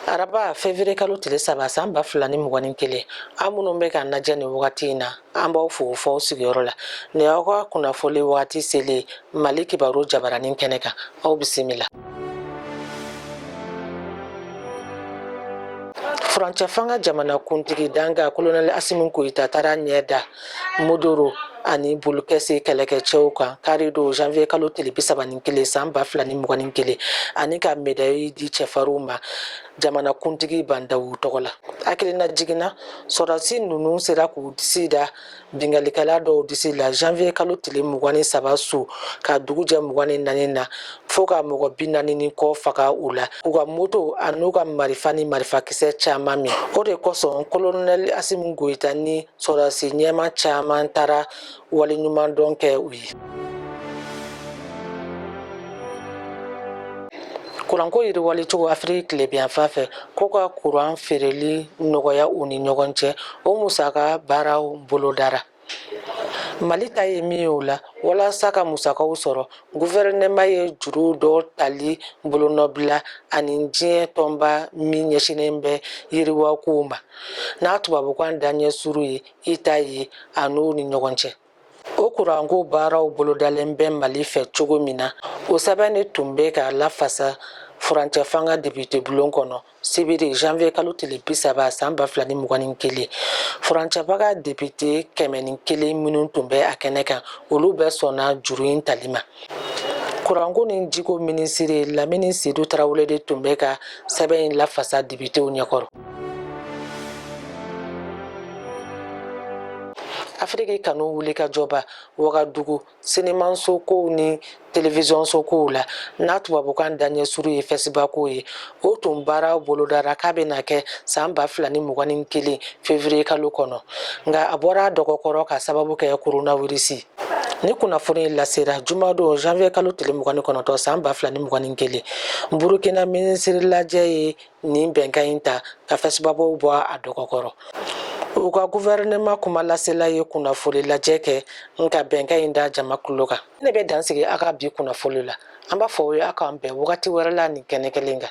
araba fevrier kalo tile saba san ba fila ni mugan ni kelen aw minnu bɛ k'an lajɛ nin wagati in na an b'aw fo fo aw sigiyɔrɔ la nin aw ka kunnafoli wagati selen mali kibaru jabaranin kɛnɛ kan aw bisimila furancɛfanga jamanakuntigi dankan kolonɛli asimi goyita taara ɲɛ da mondoro ani bulikɛsi kɛlɛkɛcɛw kan kari don janvier kalo tile bi saba ni kelen san ba fila ni mugan ni kelen ani ka medayi di cɛfarinw ma jamanakuntigi ba ndawu tɔgɔ la hakilinajigin na sɔrɔdasi ninnu sera k'u disi da binkalikɛla dɔw disi la janvier kalo tile mugan ni saba su ka dugu jɛ mugan ni naani na fo ka mɔgɔ bi naani ni kɔ faga u la k'u ka moto an'u ka marifa ni marifakisɛ caman minɛ o de kosɔn kolonɛli asimi goyita ni sɔrɔdasi ɲɛmaa caman taara waleɲumandɔn kɛ u ye kuranko yiriwali cogo afiriki tilebiyanfan fɛ ko ka kuran feereli nɔgɔya u ni ɲɔgɔn cɛ o musaka baaraw bolodara mali ta ye min ye o la walasa ka musakaw sɔrɔ gufɛrɛnɛma ye juru dɔ tali bolonɔbila a ni diɲɛ tɔnba min ɲɛsinnen bɛ yiriwakow ma n'a tubabukan daɲɛ surun ye ida ye a n'o ni ɲɔgɔn cɛ o kuranko baaraw bolodalen bɛ mali fɛ cogo min na o sɛbɛn de tun bɛ ka lafasa furancɛ fanga depitebulon kɔnɔ sibiri janvier kalo tile bi saba san ba fila ni mugan ni kelen furancɛfanga depite kɛmɛ ni kelen minnu tun bɛ a kɛnɛ kan olu bɛɛ sɔnna juru in tali ma kuranko ni jiko minisiri lamini sedu tarawele de tun bɛ ka sɛbɛn in lafasa depitew ɲɛkɔrɔ afiriki kanu wulikajɔba wagadugu sinimansokow ni televizyonsokow la n'a tubabukan daɲɛ surun ye fɛsipako ye o tun baaraw bolodara k'a bɛna kɛ san ba fila ni mugan ni kelen fevriye kalo kɔnɔ nka a bɔra dɔgɔkɔrɔ k'a sababu kɛ koronawirisi nin kunnafoni lasera jumadon janviye kalo tile mugan ni kɔnɔntɔn san ba fila ni mugan ni kelen burukina minisiri lajɛ ye nin bɛnkan in ta ka fɛsipako bɔ a dɔgɔkɔrɔ u ka gufɛrɛnɛma kuma lasela ye kunnafoni lajɛ kɛ n ka bɛnkan in da jama kulo kan ne bɛ dan sigi a ka bi kunnafoni la an b'a fɔ aw ye aw k'an bɛn wagati wɛrɛ la nin kɛnɛ kelen kan